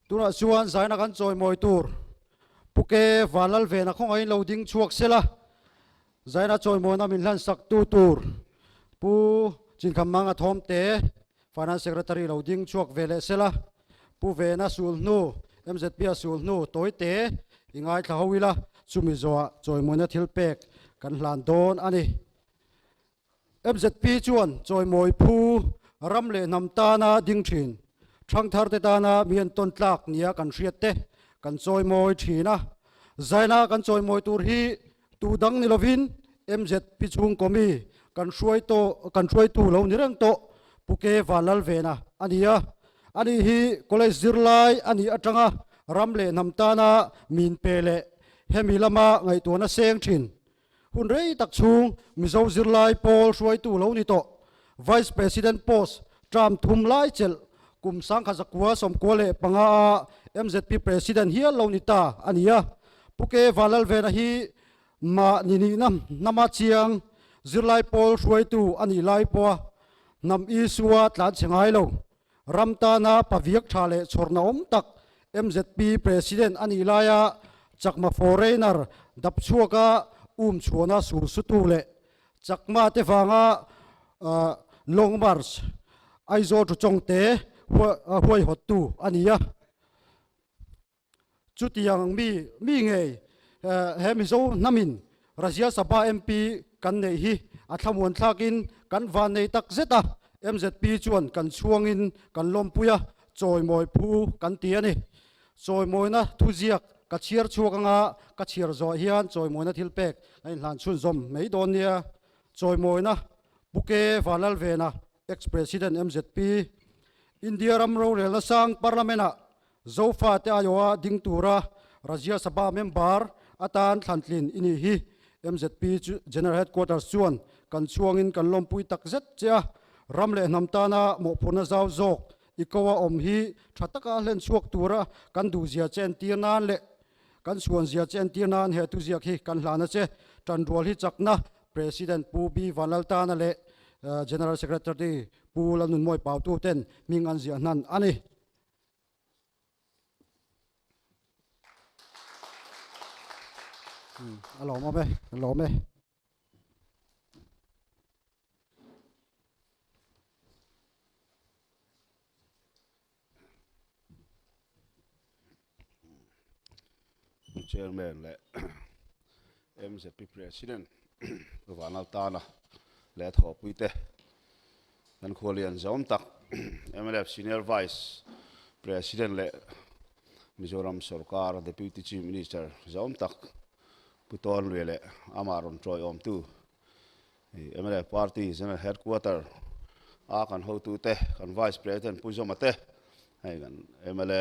Tunah chuan zaina kan chawimawi tur Puke Van Lalvena khawngaih in lo ding chhuak sela zaina chawimawina min hlansaktu tur Pu Chinkham Manga Thawmte Finance Secretary lo ding chhuak ve leh sela Pu Vena sul hnu MZP a sul hnu Tawite i ngaithla ho ila chumi zawha chawimawina thil pek kan hlan dawn a ni. Fzp chuan chawimawi phu ram leh hnam tana ding thin, thangtharte tana mi an tawn tlak nia kan hriat te kan chawimawi thin a. Zaina kan chawimawi tur hi tu dang ni lovin Mzp chhungkawmi kan hruai tawh kan hruaitu lo ni reng tawh Puke Van Lalvena a nia. A nih hi college zirlai a nih atanga ram leh hnam tana min pe leh hemi lama ngaihtuahna seng thin, Hun rei tak chhung Mizo zirlai pawl hruaitu lo ni tawh Vice President post Trump thum lai chelh kum sangkhat zakua sawmkua leh panga a mzp President hial lo ni ta a ni a. Puke Valalvena hi mah ninihna hnama chiang zirlai pawl hruaitu a nih lai pawha hnam Isua tlanchhe ngai lo Ram tana paviak tha leh chhawrhna awm tak mzp President a nih laia Chakma foreigner dap chhuaka um chhuana sur sutu leh Chakma te vanga Long March Aizawl Ṭhu Chawngte huaihawttu a ni a. Chutiang mi mi ngei he Mizo hnamin Rajya Sabha MP kan neih hi a thlamuan thlakin kan va nei tak zet a, MZP chuan kan chhuangin kan lawmpui a, chawimawi phu kan ti a ni. Chawimawina thuziak ka chhiar chhuak anga ka chhiar zawhah hian chawimawina thilpek ka inhlan chhunzawm mai dawn nia, chawimawina Pu Ke Va Lalvena, ex-President, MZP, India ram rorelna sang Parliament-ah Zofa te Iowa ding tura Rajya Sabha member a tan thlantlin i nih hi mzp chu General Headquarters chuan kan chhuangin kan lawmpui tak zet che a, ram leh hnam tana mawhphurhna zau zawk i ko a awm hi tha taka hlen chhuak tura kan duhzia che entir nan leh kan suanzia che entir nan he tuziak hi kan hlan a che tanrual hi chakna President Pu B Vanlaltana leh General Secretary Pu Lalnunmawipautu ten hming an ziah hnan a ni. a lawm awm e a lawm e Pu Chairman leh mzp President Pu Vanlal Tana leh a thawhpui te kan khua lian zawm tak mlf Senior Vice President leh Mizoram Sorkar Deputy Chief Minister zawm tak Pu Tawnlue leh amah rawn tawi awmtu mlf Party General Headquarter a kan hotu te kan Vice President Pu Zoma te hei kan mla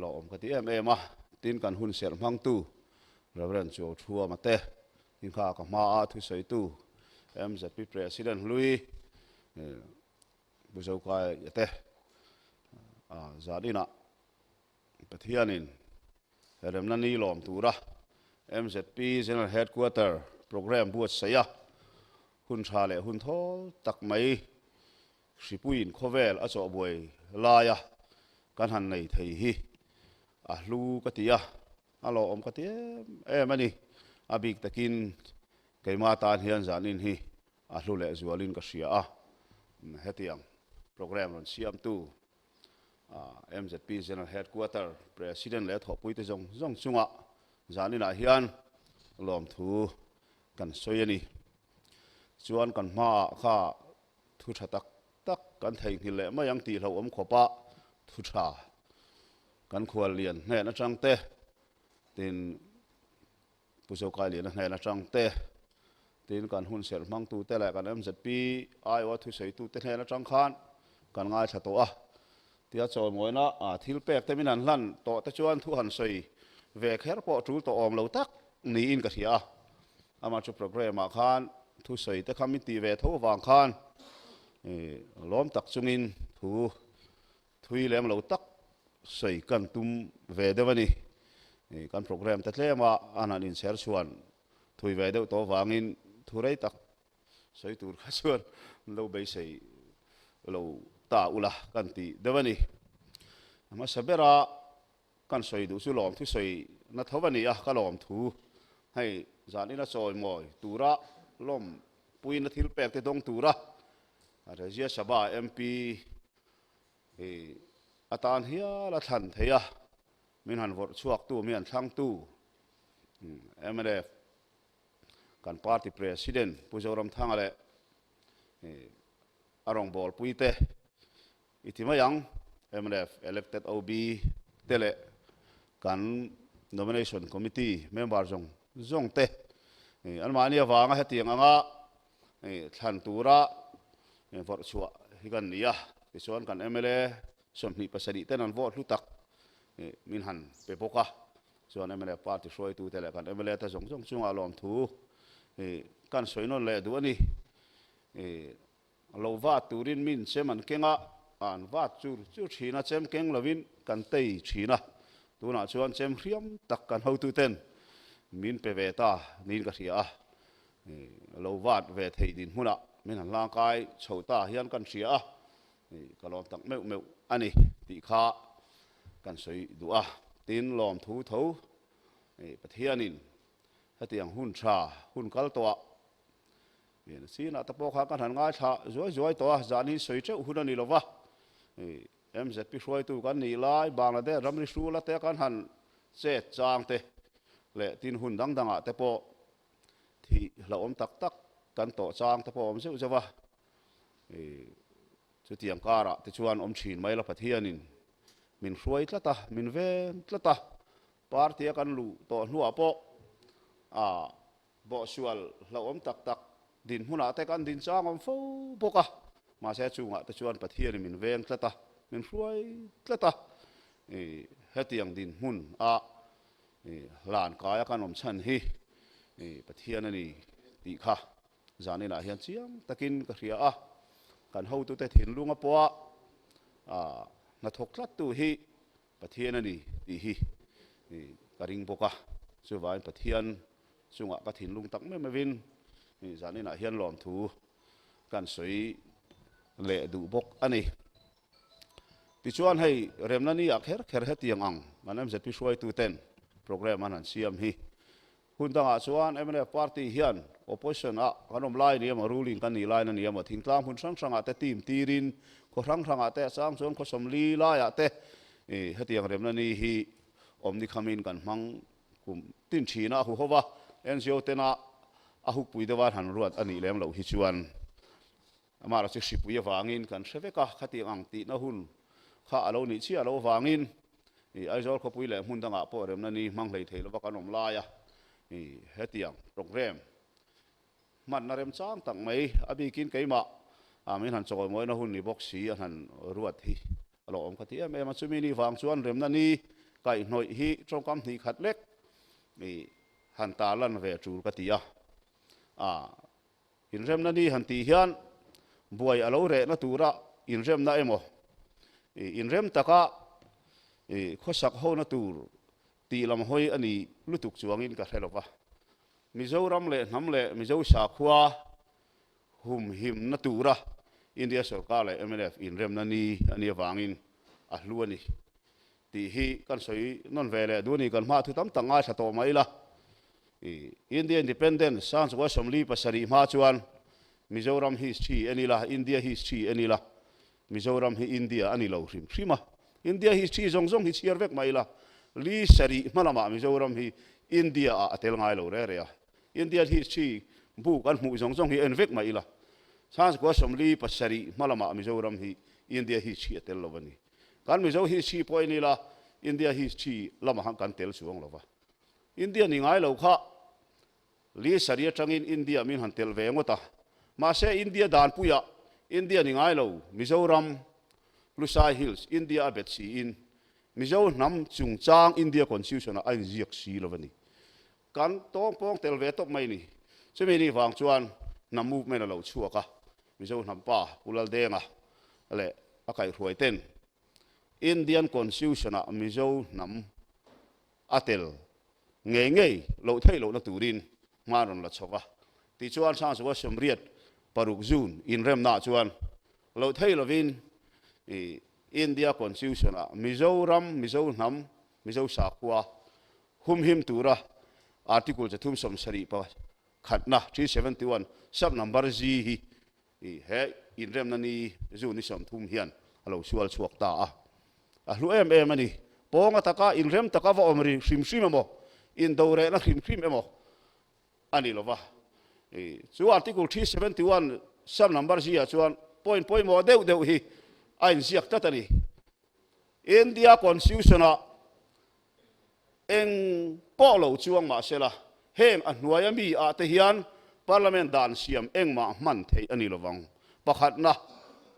Lo awm ka ti em em a, tin kan hun serh hmangtu Rev. Joe Thuama te, tin kha ka hma a thusawitu MZP President Hlui Pu Zokaiya te zat inah Pathianin he remna ni lawm tura MZP General Headquarter Programme buatsaih a hun tha leh hun thawl tak mai Hripuiin khawvel a chawh buai laia kan han nei thei hi a hlu ka ti a, a lawhawm ka ti em em a ni. A bik takin keimah tan hian zanin hi a hlu leh zualin ka hria a, hetiang programme rawn siamtu MZP General Headquarter President leh thawhpuite zawng zawng chunga zaninah hian lawmthu kan sawi a ni. Chuan kan hmaah kha Thu tha tak tak kan theihnghilh leh mai ang tih hlauhawm khawpa thu tha kan khual lian hnehna chang te, tin Pu Zokai Liana hnehna chang te, tin kan hun serh hmangtu te leh kan MZP aioa thusawitu te hnehna chang khan kan ngaithla tawh a, tia chawlngawina thil pek te min han hlan tawh te chuan thu han sawi ve kher pawh tul tawh awm lo tak niin ka hria a. Amah chu programme ah khan thusawi te kha min tih ve tho avang khan lawm tak chung in thu thui lem lo tak sawi kan tum ve deuh a ni. Kan programme te tlem ah an han in chher chuan thui ve deuh tawh avang in thu rei tak sawi tur kha chuan min lo beisei lo ta ula kan tih deuh a ni. Hmasa ber ah Kan sawi duh chu lawmthu sawi na tho a ni a, ka lawmthu hei zan in a chawi mawi tura lawm pui na thil pek te dawng tura Rajya Sabha MP hi a tan hial a thlan thei a, min han vawrh chhuak tu min han thlang tu mlf kan party president Pu Zoramthanga leh a rawngbawlpui te, I ti mai ang mnf elected OB te leh kan Nomination Committee member zawng zawng te an mahni avanga hetiang anga thlan tura vawrh chhuah hi kan ni a, tichuan kan mla sawmhnih pasarih ten an vote hlu tak hi min han pe bawk a, chuan mnf party hruaitu te leh kan mla te zawng zawng chunga lawmthu hi kan sawi nawn leh duh a ni. A lo vat turin min chem an keng a, an vat chur chur thin a, chem keng lovin kan tei thin a. Tunah chuan chem hriam tak kan hotuten min pe ve ta niin ka hria a. A lo vat ve thei dinhmunah min han hlangkai chho ta hian kan hria a, ka lawm tak meuh meuh a ni tih kha kan sawi duh a. Tin, lawmthu tho Pathianin hetiang hun tha, hun kal tawh ah Eng sina te pawh kha ka hlan ngaithla zuai zuai tawh a, zahni sawi teuh hun a ni lo va. MZP hruaitu kan nih lai Bangladesh ram rihrual ate kan han chet chang te leh tin hun dang dangah te pawh thih hlauhawm tak tak kan tawh chang te pawh a awm zeuh zeuh a. Chutiang karah te chuan awm thin mai la Pathianin min hruai tlat a, min veng tlat a, party a kan luh tawh hnuah pawh a Bawhsual hlauhawm tak tak dinhmunah te kan din changawm fo bawk a, mahse a chungah te chuan Pathian i min veng tlat a, min hruai tlat a. I hetiang dinhmun ah i hlan kaia kan awm chhan hi i Pathian a ni tih kha zaninah hian chiang takin ka hria a, kan hotute thinlunga pawha a hnathawk tlattu hi Pathian a ni tih hi ka ring bawk a, chuvain Pathian chungah ka thinlung tak meuh meuhin zan inah hian lawmthu kan sawi leh duh bawk a ni. Tichuan hei remna ni ah kher kher hetiang ang kan MZP hruaituten programme an han siam hi Hun dangah chuan mnf party hian opposition ah kan awm lai ni emaw ruling kan nih lai na ni emaw thingtlang hun hrang hrangah te team tirin khaw hrang hrangah te a chang chuan khawsawm li laiah te hetiang remna ni hi awm ni khamin kan hmang kum tin thin a huhawv a NGO tena a hukpui deuh a han ruat a nih lem loh hi chuan Amara chu hripui avangin kan hre vek a, khatiang ang tihna hun kha a lo nih chiah lo avangin i Aizawl khawpui leh hmun dangah pawh remna ni hmanghlei theih lova kan awm lai a, i hetiang programme hmatna rem chang tak mai a bikin keimah a min han chawi mawina hun ni bawk si an han ruat hi a lo awm kha ti em em a, chumi ni vang chuan remna ni kaihnawih hi tawngkam hnih khat lek i han tarlan ve tul ka ti a, a. Inremna ni han tih hian buai a lo rehna tura inremna emaw i inrem taka i khawsak hona tur tih lam hawi a ni lutuk chuangin ka hre lawk a. Mizoram leh hnam leh Mizo sakhua humhimna tura India sorkar leh mnf inremna ni a nia vangin a hlu a ni. Tih hi kan sawi nawn ve leh duh a ni. Kan hmaah thu tam tak ngaithla tawh mai ila i. India Independence sang chu Assam Lee pasarih hma chuan Mizoram hi Sri a ni la, India hi Sri a ni la, Mizoram hi India a ni lo hrim hrim a. India hi Sri zawng zawng hi chhiar vek mai ila, Lee sarih hma lamah Mizoram hi India ah a tel ngai lo reh reh a. India hi Sri buk an hmuh zawng zawng hi a en vek mai ila, sang chu Assam Lee pasarih hma lamah Mizoram hi India hi Sri a tel lo a ni. Kan Mizo history pawh en ila India history lamah kan tel chuang lova. India ni ngai lo kha Lee Sari atangin India min han tel ve ngawt a. Mahse India danpuia India ni ngai lo Mizoram, Lusai Hills, India a bet si in Mizo hnam chungchang India Constitution-ah a inziak si lova ni. Kan tawng pawng tel ve tawp mai ni. Chumi ni vang chuan hnam movement a lo chhuak a, Mizo hnampa Pu Laldenga leh a kaihhruai ten Indian Constitution ah Mizo hnam a tel ngei ngei loh theih loh na turin hma'n rawn la chhawk a. Tichuan Thlangzua Siamriat paruk June inremna ah chuan loh theih lovin India Constitution ah Mizoram, Mizo hnam, Mizo sakhua Humhim tura Article chathum sawm sarih pa khatna, three seventy one, sub number G hi he inremna ni zu ni sawm thum hian a lo sual chhuak ta a, a hlu em em a ni. Pawnga taka inrem taka va awm ri hrim hrim emaw, indo rehna hrim hrim emaw a ni lova. Chu Article three seventy one, sub number G-ah chuan point pawimawh deuh deuh hi a inziak tlat a ni. India Constitution-ah Eng pawh lo chuang mah sela, heng a hnuaia mi ah te hian Parliament dan siam engmah hman theih a ni lovang. Pakhatna,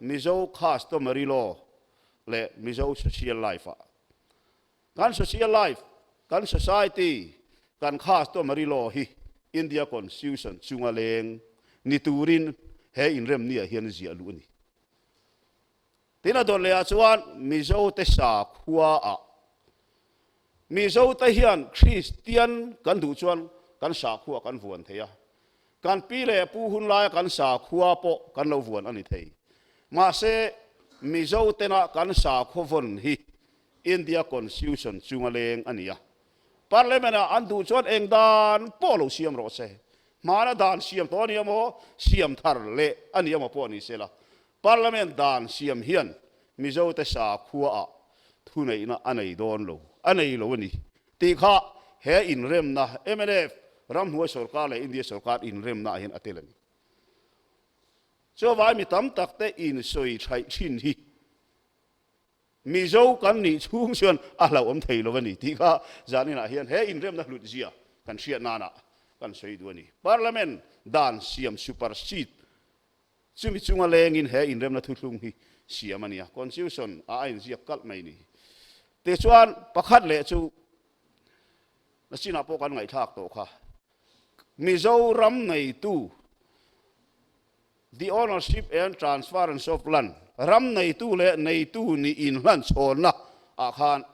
Mizo Customary Law leh Mizo Social Life ah kan social life, kan society, kan customary law hi India Constitution chunga leng ni turin he inrem ni ah hian ziah luh a ni. Tin a dawr lehah chuan Mizote sak huaah Mizote hian Kristian kan duh chuan kan sak hua kan vuan thei a, kan pi leh pu hun laia kan sak hua pawh kan lo vuan a ni thei. Mahse, Mizotena kan sak huavawn hi India Constitution chunga leng a ni a. Parliament-ah an duh chuan eng dan pawh lo siam rawh se, hmana dan siam tawh a nia maw, siam thar leh a nia maw pawh a ni sela, Parliament dan siam hian Mizote sakhua ah thuneihna a nei dawn lo, a nei lo a ni tih kha he inremna mlf ramhnuai sorkar leh India sorkar inremna ah hian a tel a ni. Chuvai mi tam tak te in sawi thlaih thin hi Mizo kan nih chhung chuan a hlauhawm thei lo a ni tih kha zan inah hian he inremna hlut zia kan hriat nan ah kan sawi duh a ni. Parliament dan siam supersede Chumi chunga lengin he inremna thuthlung hi siam a nia, Constitution ah a inziak kalh mai ni. Tih chuan pakhat leh chu na chinah pawh kan ngaihthlak tawh kha, Mizoram neitu, The ownership and transference of land, ram neitu leh neitu nih inhlan chhawnna ah khan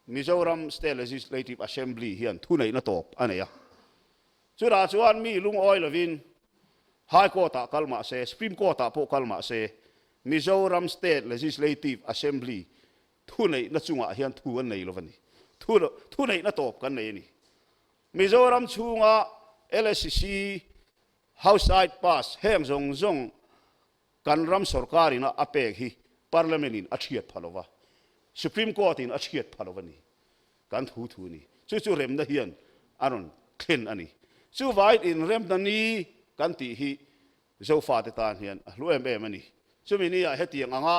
Mizoram State Legislative Assembly hian thuneihna tawp a nei a. Chutah chuan mi lungawi lovin High Court-ah kal mah se, Supreme Court-ah pawh kal mah se, Mizoram State Legislative Assembly thuneihna chungah hian thu an nei lo a ni. Thu thuneihna tawp kan nei a ni. Mizoram chhunga LSC House Side Pass heng zawng zawng Kan ram sorkarin a a pek hi Parliament in a thiat pha lova, Supreme Court in a thiat pha lova ni. Kan thu thu ni. Chu chu remna hian a rawn thlen a ni. Chuvai in remna ni kan tih hi Zofa te tan hian a hlu em em a ni. Chumi ni ah hetiang anga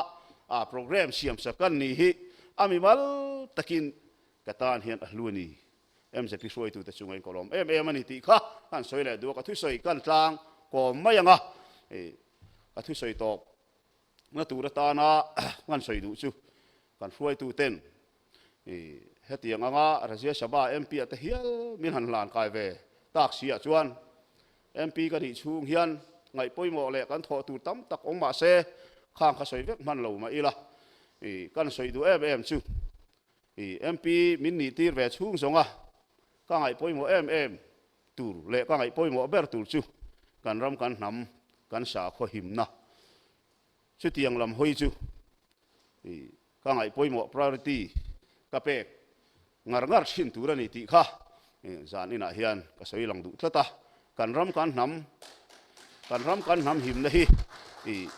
a programme siam sak kan nih hi a mi mal takin ka tan hian a hlu a ni. MZP hruaitute chu ngahin kawlawm em em a ni tih kha a han sawi leh duh a, ka thusawi ka han tlang kawm mai ang a, hei ka thusawi tawp na tur atana ka han sawi duh chu kan hruaituten hetiang anga Razia Sabha MP ate hial min han hlan kai ve tak si ah chuan MP ka nih chhung hian ngaih pawimawh leh kan thawh tur tam tak awm mah se khang kha sawi vek hman lo mah ila kan sawi duh em em chu I MP min nih tir ve chhung zawng a, ka ngaihpawimawh em em tur leh ka ngaihpawimawh ber tur chu kan ram kan hnam kan sakhaw himna chutiang lam hawi chu i ka ngaihpawimawh priority ka pek ngar ngar thin tur a ni tih kha zan inah hian ka sawi lang duh tlat a, kan ram kan hnam kan ram kan hnam himna hi i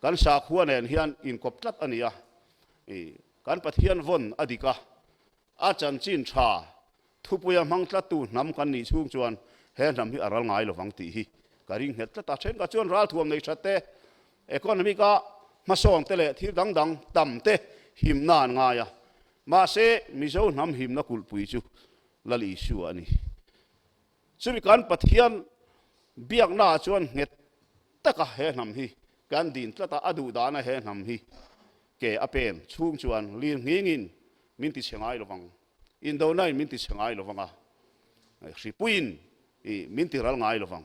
kan sakhuanen hian inkawp tlat a ni a i. Kan Pathian vawn a dik a, a chanchin tha, thupuia hmangtlattu hnam kan nih chhung chuan he hnam hi a ral ngai lo vang tih hi ka ring nghet tlat a. Thenkhat chuan ral thuam nei that te, economic a hmasawng te leh thil dang dang tam te himna an ngai a, mahse Mizo hnam himna kulhpui chu Lal Isua a ni. Chumi kan Pathian biaknaah chuan nghet taka he hnam hi kan din tlat a, a duh dahna he hnam hi ke a pen chhung chuan lir nghingin min ti chhe ngai lovang, indonain min ti chhe ngai lovang a, hripuiin min ti ral ngai lovang.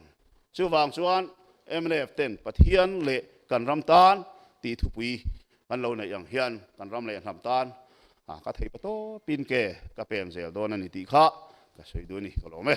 Chuvang chuan mlf ten Pathian leh kan ram tan ti thupui Kan lo neih ang hian kan ram leh a hnam tan a ka thei pa tawp in ke ka pem zel dawn a ni tih kha ka sawi dun a ni ka lawm e.